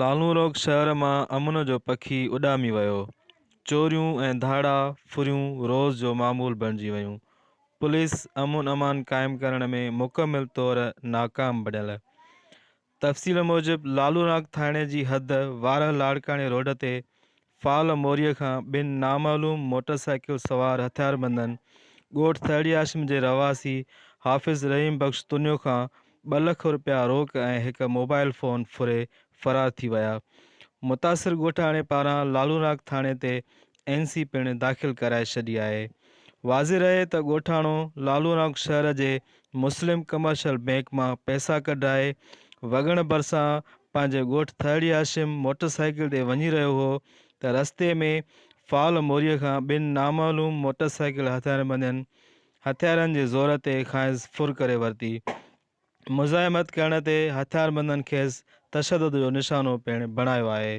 لالونروڪ شهر مان امن جو پکي اڏامي ويو، چوريون ۽ ڌاڙا ڦريون روز جو معمول بڻجي ويون، پوليس امن امان قائم ڪرڻ ۾ مڪمل طور ناڪام بڻيل. تفصيل موجب لالوناڪ ٿاڻي جي حد وارهه لاڙڪاڻي روڊ تي فال موريء کان ٻن نامعلوم موٽر سائيڪل سوار هٿياربندن ڳوٺ ٿهڙي هاشم جي رهواسي حافظ رحيم بخش تنيو کان ٻه لک رپيا روڪ ۽ هڪ موبائيل فون ڦري فرار ٿي ويا. متاثر ڳوٺاڻي پاران لالوناڪ ٿاڻي تي اين سي پڻ داخل ڪرائي ڇڏي آهي. واضح رهي ته ڳوٺاڻو لالوناڪ شهر جي مسلم ڪمرشل بئنڪ مان پئسا ڪڍرائي وڳڻ ڀرسان پنهنجي ڳوٺ ٿهڙي هاشم موٽر سائيڪل تي وڃي رهيو هو ته رستي ۾ فال موريء کان ٻن نامعلوم موٽر سائيڪل هٿياربندين هٿيارن جي زور تي کانئس ڦر ڪري ورتي. مزاحمت ڪرڻ تي هٿياربندن کيس تشدد جو نشانو پڻ بڻايو آهي.